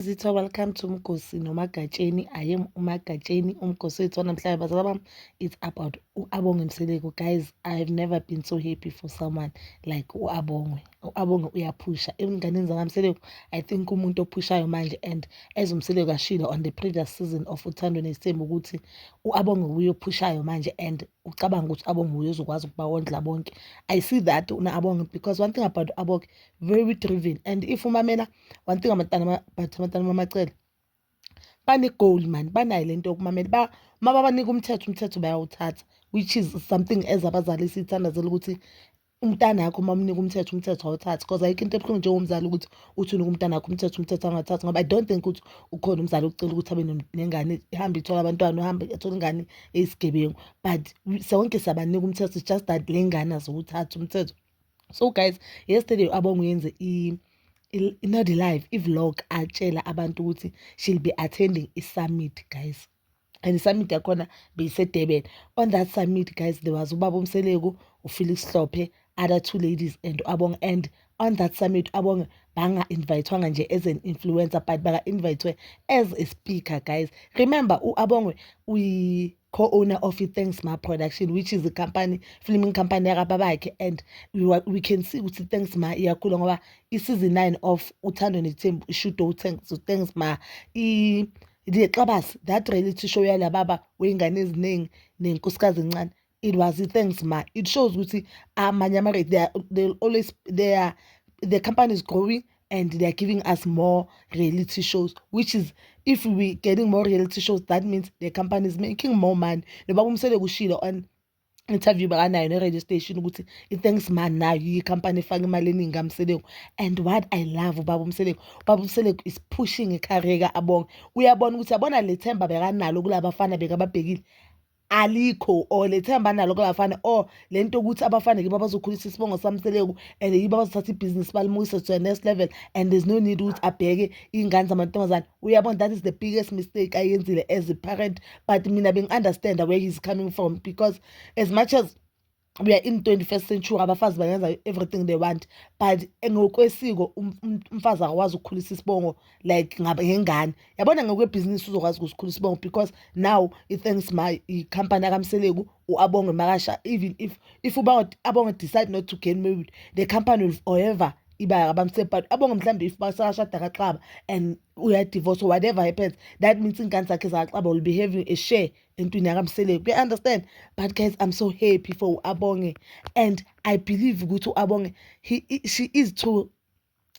Zitha welcome to Mgosi noMagatsheni I am uMagatsheni uMgosi wethu wanamhlanje bazala bami it's about uAbonge Mseleku guys I have never been so happy for someone like uAbonge uAbonge uyaphusha ezinganeni zakaMseleku I think umuntu ophushayo manje and as uMseleku ashilo on the previous season of uthando nesithembu ukuthi uAbonge uyophushayo manje and ucabanga ukuthi uAbonge uyozokwazi ukuba wondla bonke I see that unaAbonge because one thing about uAbonge very driven and if umamela one thing amatana but amatana mamacele bane-goal mani banayo le nto yokumamela ba uma babanika umthetho umthetho bayawuthatha which is something as abazali siyithandazela ukuthi umntana wakho uma umnika umthetho umthetho awuthathi because ayikho into ebuhlungu njengomzali ukuthi uthi unika umntana wakho umthetho umthetho angathathi ngoba i don't think ukuthi ukhona umzali ocela ukuthi abe nengane ihambe ithole abantwana uhambe athole ingane eyisigebengu but sonke siyabanika umthetho just that le ngane aziwuthathi umthetho so guys yesterday abonga yenze i not live i-vlog atshela abantu ukuthi she'll be attending i-summit guys and i-summit yakhona beyisedurban on that summit guys there was ubaba umseleku ufelix hlophe other two ladies and abong and on that summit abonge banga-invayithwanga nje as an influencer but baka-invayithwe as a speaker guys remember u-abongwe uyi co-owner of i-thanksma production which is company filming company yakababakhe and we, we can see ukuthi thanksma iyakhula ngoba i-season nine of uthando nethembu ishudo uthanksma lexabasi that reality show yala baba wey'ngane eziningi nenkosikazi encane it was i-thanksma it shows ukuthi amanye ama-rate they, they always they are the company is growing and they are giving us more reality shows which is if we getting more reality shows that means the company is making more money noba kumsele kushilo on interview bakanayo ne-radio station ukuthi i-thanks man nayo i-company efake imali eningi kamseleku and what i love ubaba umseleku ubaba umseleku is pushing icareer ka-abonge uyabona ukuthi yabona le themba bekanalo kulaba bafana bekababhekile alikho or lethemba nalo kubafana or lento ukuthi abafana kiba bazokhulisa isibongo samseleku and yiba bazothatha ibhizinisi balimukise to the next level and there's no need ukuthi abheke iy'ngane zamantombazane uyabona that is the biggest mistake ayenzile as a parent but mina bengi-understanda where he's coming from because as much as we are in 21st century abafazi bangenza everything they want but ngokwesiko um, um, umfazi akwazi ukukhulisa isibongo like ngengane yabona ngokwebhizinisi uzokwazi ukusikhulisa isibongo because now i-thanks my i-company akamseleku u-abonge makasha even if if uba abonge decide not to gain married the company will forever iba abamsebhat abonge mhlawumbe if basashada kaxaba and uyadivorce whatever happens that means iy'ngane zakhe zakaxaba will be having a share entwini yakamseleku kuya understand but guys i'm so happy for uabonge and i believe ukuthi uabonge he, he, she is too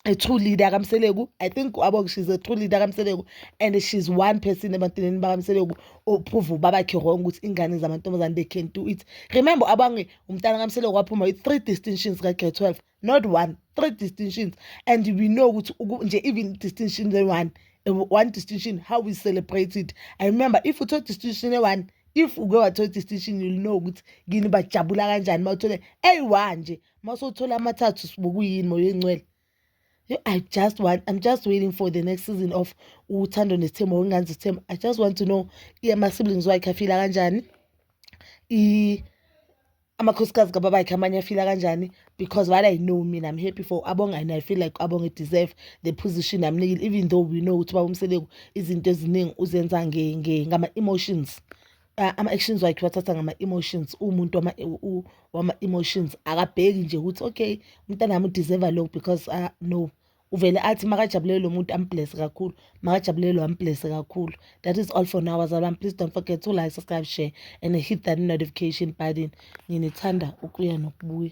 a true leader kamseleku i think uabonge she's a true leader kamseleku and she's one person ebantwini bakamseleku ophuva ubabakhe wrong ukuthi ingane zamantombazane they can do it remember abange umntana kamseleku waphuma with three distinctions ka-grade 12 not one three distinctions and we know ukuthi nje even distinction le-one one distinction how we celebrate it i remember if uthole distinction le-one if uke wathola distinction you'll know ukuthi kini bajabula kanjani uma uthole eyi-one nje uma usowuthola amathathu sibukuyini moya oyingcwele I just want, I'm just waiting for the next season of Uthando Nesithembu or Nganzi Sithembu. I just want to know, yeah, my siblings, why kafila kanjani? amakhosikazi kababakhe amanye afila kanjani because what i know mina i'm happy for abonga and i feel like abonga deserve the position amnikile even though we know ukuthi babumseleku izinto eziningi uzenza ngama-emotions uh, ama-actions wakhe wathatha ngama-emotions uwumuntu wama-emotions akabheki nje ukuthi okay umntanami udeserva lokhu because uh, no uvele athi makajabulele lo muntu amblese kakhulu makajabulele lo amblese kakhulu that is all for now bazalwane please don't forget to like subscribe share and hit that notification button nginithanda ukuya nokubuya